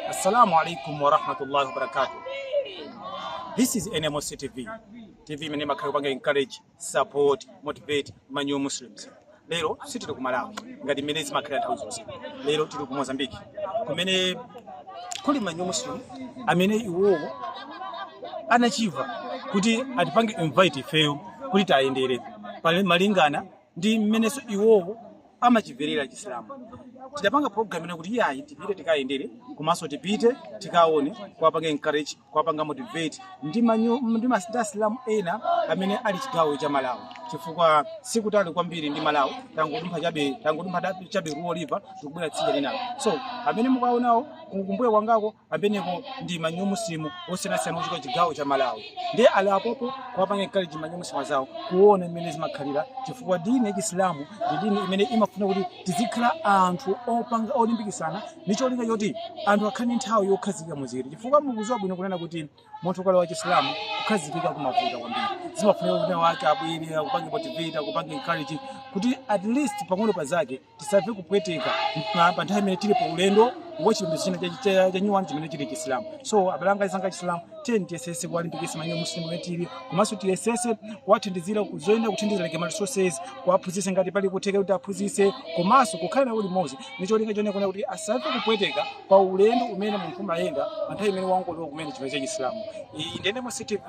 Assalamu alaikum wa rahmatullahi wa barakatuh. This is NMOC TV. TV imene imakhala kupanga encourage, support, motivate ma new Muslims. Lero sitili ku Malawi ngati mmene zimakhala nthawi zonse. Lero tili ku Mozambique kumene kuli ma new Muslim amene iwowo anachiva kuti atipange invite ifeyo kuti tayendere pamalingana ndi mmenenso iwowo amachimvera chisilamu tidapanga program ina kuti iyayi tipite tikawayendere komanso tipite tikaone kuwapanga encourage kuwapanga motivate ndi manyo ndi mas- ndi asilamu ena amene ali chigawo cha malawi chifukwa sikutali kwambiri ndi malawi tangodumpha chabe tangodumpha da- chabe ruo river tikubwera tsidya linalo so amene mukuwaonawo kumbuyo kwangako amenepo ndi ma new muslimu osiyanasiyana ochokera chigawo cha malawi ndiye ali apopo kuwapanga encourage ma new muslimu azawo kuona mmene zimakhalira chifukwa dini ya chisilamu ndi dini imene imafuna kuti tizikhala anthu opanga olimbikisana ndi cholinga choti anthu akhale ndi nthawi yokhazikika muziri chifukwa mukuziwa bwino kunena kuti munthu ukalowa chisilamu kukhazikika kumavuta kwambiri zimafunika kuti azake abwere akupange motivate akupange encourage kuti at least pang'ono pazake tisamve kupweteka pa- pa nthawi imene tili pa ulendo wa chipembedzo china cha- cha- chanyuwani chimene chili chisilamu so abale anga azanga chisilamu tiyeni tiyesese kuwalimbikisa ma new muslimu amene tili komanso tiyesese kuwathandizira kuzoyenda kuthandiza like ma resources kuwaphunzisa ngati pali kutheka kuti aphunzise komanso kukhala nawo limodzi ndi cholinga chonena kuti asamve kupweteka pa ulendo umene munthu amayenda pa nthawi imene wangolowa kumene chipembedzo cha chisilamu iyi ndi NMOC TV